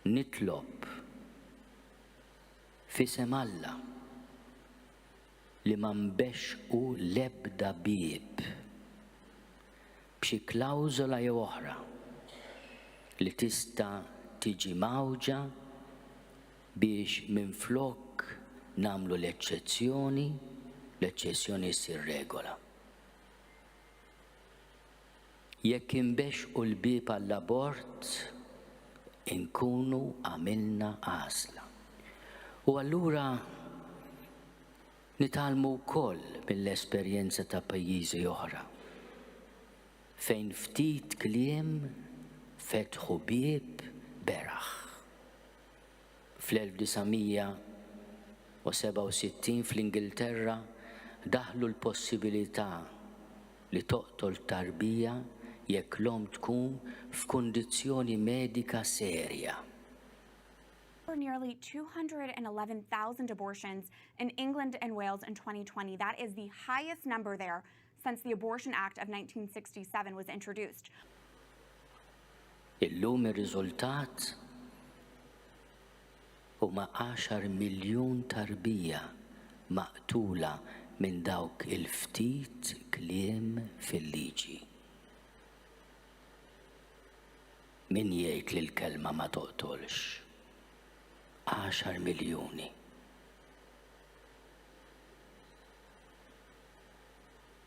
Nitlob f'isem Alla li ma nbexxqu l-ebda bieb b'xi klawżola jew oħra li tista' tiġi mgħawġa biex minflok nagħmlu l-eċċezzjoni, l-eċċessjoni ssir regola. Jekk inbexxqu l-bieb għall-abort, inkunu għamilna għażla. U allura nitgħallmu wkoll mill-esperjenza ta' pajjiżi oħra, fejn ftit kliem fetħu bieb beraħ. Fl-1967 fl-Ingilterra daħħlu l-possibilità li toqtol t-tarbija jekk l-omm tkun f'kundizzjoni medika serja. There were nearly 211,000 abortions in England and Wales in 2020, that is the highest number there since the Abortion Act of 1967 was introduced. Illum ir-riżultat huma 10 miljun tarbija maqtula minn dawk il-ftit kliem fil-liġi. Min jgħid li l-kelma ma toqtolx? 10 miljuni.